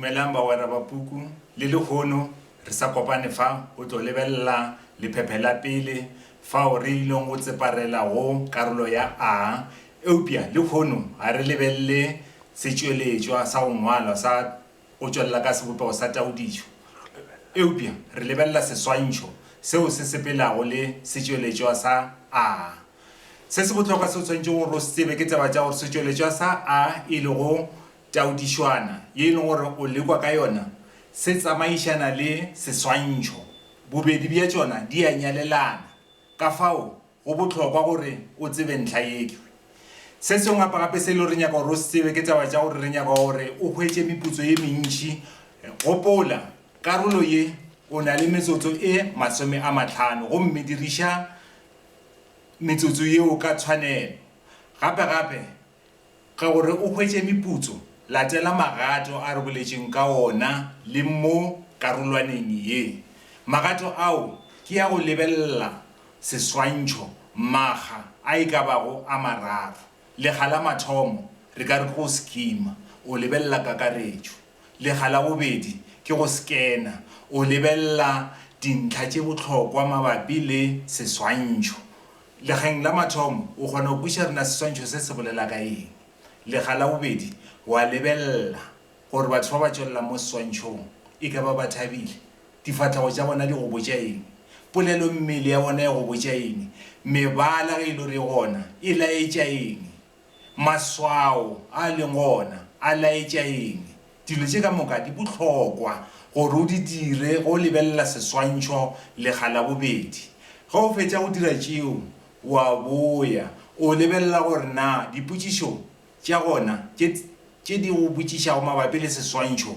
Dumelang bagwera ba puku, le lehono re sa kopane fa go tlo lebelela lephephe la pele fao re ilego go tseparela go karolo ya A, eupša lehono ga re lebelele setšweletšwa sa go ngwalwa sa go tšwelela ka sebopego sa taodišo, eupša re lebelela seswantšho seo se sepelago le setšweletšwa sa A. Se se bohlokwa se o swanetšego gore o se tsebe ke taba tša gore setšweletšwa sa A e lego Taodišwana ye e lego gore o lekwa ka yona se tsamaišana le seswantšho. Bobedi bja tšona di a nyalelana, ka fao go bohlokwa gore o tsebe ntlha ye. Se sengwe gape-gape se e lego gore re nyaka gore o se tsebe ke taba tša gore re nyaka gore o hwetše meputso ye mentši. Gopola, karolo ye o na le metsotso e masome a mahlano gomme diriša metsotso yeo ka tshwanelo. Gape-gape Ka gore o hwetše meputso, latela magato a re boletšeng ka ona le mo karolwaneng ye. Magato ao ke ya go lebelela seswantšho makga a e ka bago a mararo. Lekga la mathomo re ka re ke go skima, o lebelela kakaretšo. Lekga la bobedi ke go skena, o lebelela dintlha tše bohlokwa mabapi le seswantšho. Legeng la mathomo, o kgona go kweša re na seswantšho se se bolela ka eng. Lega la bobedi, o a lebelela gore batho ba ba tšwelelang mo seswantšhong e ka ba ba thabile. Difahlego tša bona di go botša eng? Polelommele ya bona e go botša eng? Mebala ge e le gore e gona e laetša eng? Maswao a a leng gona a laetša eng? Dilo tše ka moka di bohlokwa gore o di dire ge o lebelela seswantšho lekga la bobedi. Ge o fetša go dira tšeo, o a boya o lebelela gore na dipotšišo tša gona tše di go botšišago mabapi le seswantšho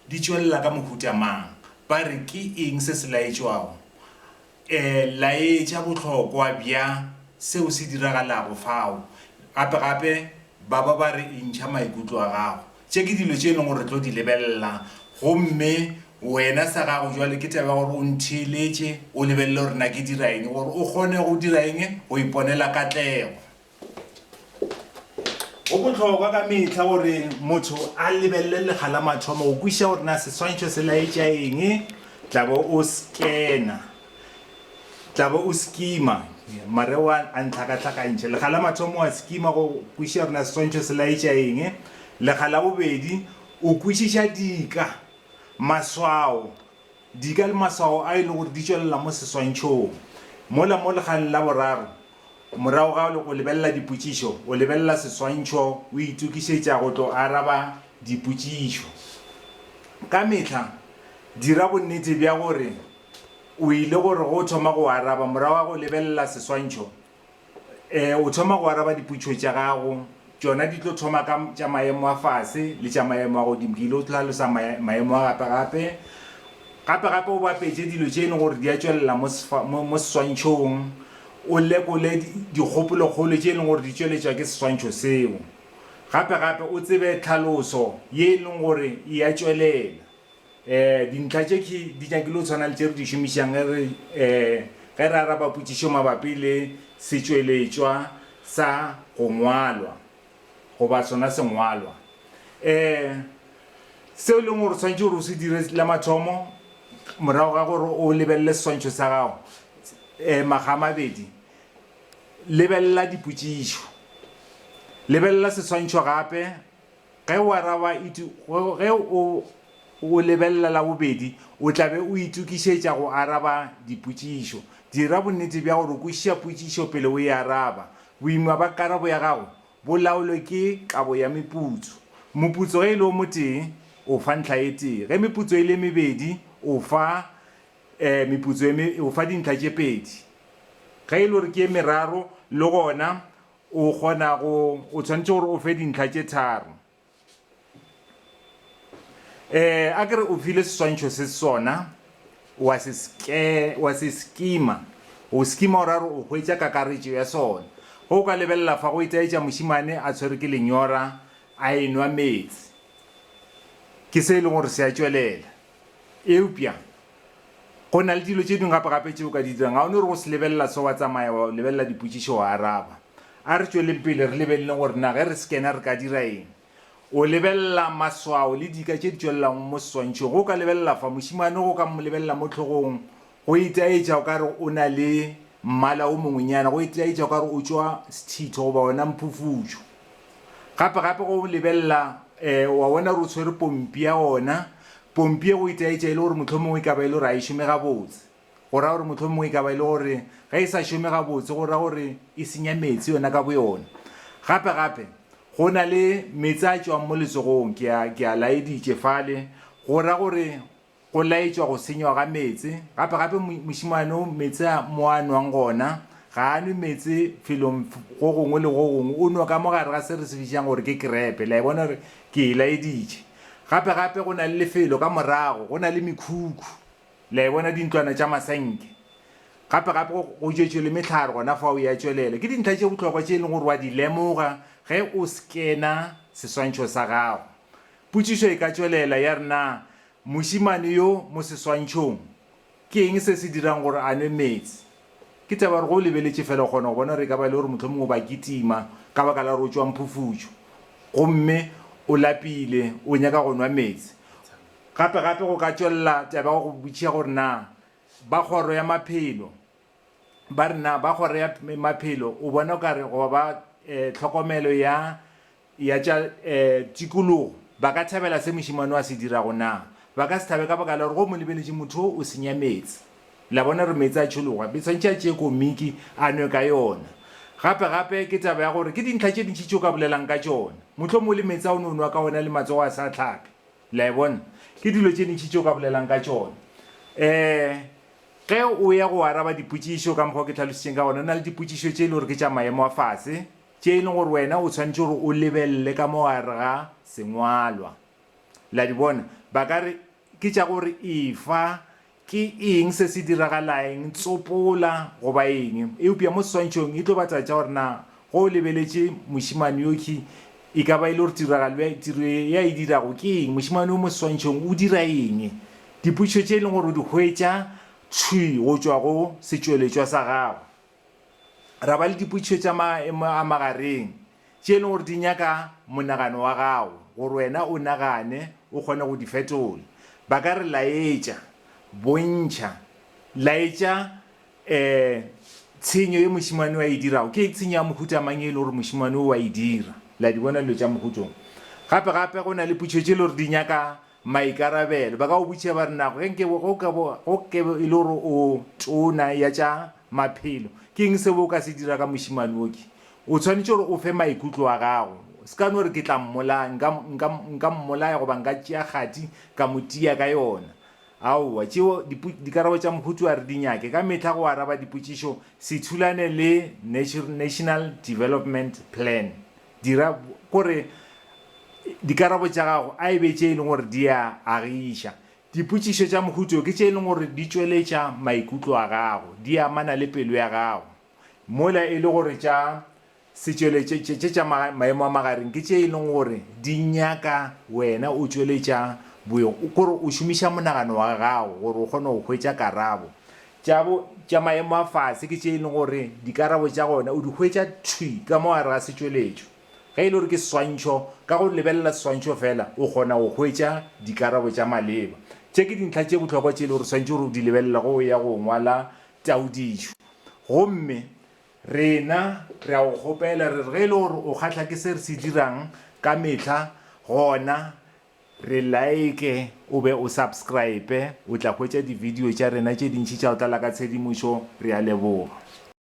di tšwelela ka mohuta mang. Ba re ke eng se se laetšwago? Laetša bohlokwa bja seo se diragalago fao. Gape gape, ba ba ba re intšha maikutlo a gago. Tše ke dilo tše e lego gore re tlo di lebelela. Gomme wena sa gago bjale ke taba ya gore o ntheeletše, o lebelele gore na ke dira eng, gore o kgone go dira eng? Go iponela katlego. Go bohlokwa ka mehla gore motho a lebelele lega la mathomo go kwiša gore na seswantšho se laetša eng, tlabe o skena, tlabe o skima, mare wa a ntlhakatlhakantšha. Lega la mathomo wa skima go kwiša gore na seswantšho se laetša eng, lega la bobedi o kwišiša dika, maswao, dika le maswao a e le gore di tšwelela mo seswantšhong, mola mo legang la boraro, Morago ga go lebelela dipotšišo, o lebelela seswantšho o itokišetša go tlo araba dipotšišo. Ka mehla dira bonnete bja gore o ile gore go thoma go araba morago ga go lebelela seswantšho, o thoma go araba dipotšišo tša gago Tšona di tlo thoma ka tša maemo a fase le tša maemo a godimo. Ke ile go hlalosa maemo a gape-gape. Gape-gape o bapetše dilo tše e lego gore di a tšwelela mo seswantšhong, o lekole dikgopolokgolo tše e lego gore di tšweletšwa ke seswantšho seo. Gape-gape o tsebe tlhaloso ye e lego gore e a tšwelela. um dintlha tše ke di nyakile go tshwana le tše re di šomišang ge re um ge re araba potšišo mabapi le setšweletšwa sa go ngwalwa goba sona sengwalwa. um Seo e leng gore o swanetše gore o se dire la mathomo morago ga gore o lebelele seswantšho sa gago, um makga a mabedi, lebelela dipotšišo, lebelela seswantšho gape, Ge o araba ge o o lebelela la bobedi, o tla be o itokišetša go araba dipotšišo. Dira bonnete bja gore o kwešiša potšišo pele o e araba. Boima ba karabo ya gago bo laolwe ke kabo ya meputso. Moputso ge e le o motee, o fa ntlha e tee. Ge meputso e le e mebedi, o fa meputso e o fa dintlha tše pedi. Ge e le gore ke e meraro, le gona O kgona go, o tshwanetse gore o fe dintlha tše tharo. Um, a ke re o file seswantšho se sona, wa se ske, wa se skima, o skima o ra gore o hwetša kakaretšo ya sona. Ge o ka lebelela fa, go itaetša mošemane a tshwere ke lenyora, a enwa meetse. Ke se e lego gore se a tšwelela. Eupša Go na le dilo tše dingwe gape-gape tše o ka di dirang. Ga o no re go se lebelela se wa tsamaya wa lebelela dipotšišo wa araba. A re tšweleng pele re lebeleleng gore na ge re scanner re ka dira eng. O lebelela maswao le dika tše di tšwelelago mo seswantšhong. Ge o ka lebelela fa, mošemane ge o ka lebelela mo tlhogong, go itaetša o ka re o na le mmala o mongwenyana, go itaetša o ka re o tšwa sethitho goba ona mphufutšo. Gape-gape ge o lebelela um wa bona gore o tshwere pompi ya ona, Pompie o itaetša e le gore mohlomongwe e ka ba e le gore a e šome gabotse, go ra gore mohlomongwe e ka ba e le gore ge e sa šome gabotse go ra gore e senya meetse yona ka boyona. Gape gape, go na le meetse a tšwang mo letsogong, ke a, ke a laeditše fale, go ra gore go laetšwa go senywa ga meetse. Gape gape, mo, mošemane o, meetse a mo a nwang gona, ga a nwe meetse felong go gongwe le go gongwe, o nwa ka mo gare ga se re se bitšang gore ke krepe. Le a e bona gore ke e laeditše. Gape gape go na le lefelo ka morago, go na le mekhukhu, le a e bona, dintlwana tša masenke. Gape gape go, go tšwetšwe le mehlare gona fao ya tšwelela. Ke dintlha tše bohlokwa tše e leng gore wa di lemoga ge o skena seswantšho sa gago. Potšišo e ka tšwelela ya re, Na mošemane yo mo seswantšhong Ke eng se se dirang gore a nwe meetse? Ke taba ya gore ge o lebeletše feela o kgona go bona gore e ka ba e le gore mohlomongwe o ba kitima ka baka la gore o tšwa mphufutšo gomme o lapile, o nyaka go nwa meetse. Gape-gape go ka tšwelela taba ya go go botšiša gore na ba kgoro ya maphelo ba re na ba kgoro ya maphelo o bona o ka re goba ba tlhokomelo ya ya tša tikologo ba ka thabela se mošemane o a se dirago? Naa ba ka se thabe ka baka la gore go mo lebeletše motho wo o senya meetse? La bona gore meetse a tšhologa, be tshwanetše a tšee komiki a nwe ka yona. Gape gape ke taba ya gore ke dintlha tše ntši tše o ka bolelang ka tšona. Mohlomongwe o le meetse a o ne o nwa ka ona le matsogo a sa hlape. La e bona? Ke dilo tše ntši tše o ka bolelang ka tšona. Um Ge o ya go araba dipotšišo ka mokgwa o ke hlalositšeng ka gona, go na le dipotšišo tše e le gore ke tša maemo a fase. tše e lego gore wena o swanetše gore o lebelele ka mo gare ga sengwalwa. La di bona? Ba ka re, Ke tša gore efa, ke eng se se diragalaeng, tsopola, goba eng. Eupša mo seswantšhong e tlo ba taba tša gore na ge o lebeletše mošemane yokhwi e ka ba e le gore tiragalo ya, tiro ya e dirago ke eng, mošemane yo mo seswantšhong o dira eng. Dipotšišo tše e lego gore o di hwetša thwi go tšwa go setšweletšwa sa gagwe. ra ba le dipotšišo tša maemo a magareng tše e lego gore di nyaka monagano wa gago gore wena o nagane o kgone go di fetola. Ba ka re laetša, bontšha, laetša um tshenyo ye mošemane o a e dirago. Ke tshenyo ya mohuta mang e lego gore mošemane o a e dira? La di bona dilo tša mohuta wo. Gape gape go na le potšišo tše e lego gore di nyaka maikarabelo. Ba ka go botšiša ba re, Nago ge nke bo, ge o ka bo, ge o ke e le gore o tona ya tša Maphelo. Ke eng seo o ka se dira ka mošemane wo? Ke. O swanetše gore o fe maikutlo a gago. O se ka no re, Ke tla mmolaya. Nka, nka, nka mmolaya goba nka tšea kgati ka mo tia ka yona. Aowa. Tšeo dipo, dikarabo tša Mohutu a re di nyake ka mehla go araba dipotšišo se thulane le Natu, National Development Plan. Dira, ko re, dikarabo tša gago a e be tše e leng gore di a agiša. Dipotšišo tša mohuta wo ke tše e lego gore di tšweletša maikutlo a gago, di amana le pelo ya gago, mola e le gore tša setšweletšo tše tša maemo a magareng ke tše e lego gore di nyaka wena o tšweletša boyong, kore o šomiša monagano wa gago gore o kgone go hwetša karabo. Tša bo tša maemo a fase ke tše e lego gore dikarabo tša gona o di hwetša thwi ka mo gare ga setšweletšo. Ge e le gore ke seswantšho, ka go lebelela seswantšho fela o kgona go hwetša dikarabo tša maleba. Tše ke dintlha tše bohlokwa tše e lego gore swanetše gore o di lebelele ge o ya go ngwala taodišo. Gomme rena re a go kgopela re re ge e le gore o kgahla ke se re se dirang ka mehla, gona re like o be o subscribe, o tla hwetša divideo tša rena tše dintši tša go tlala ka tshedimošo. Re a leboga.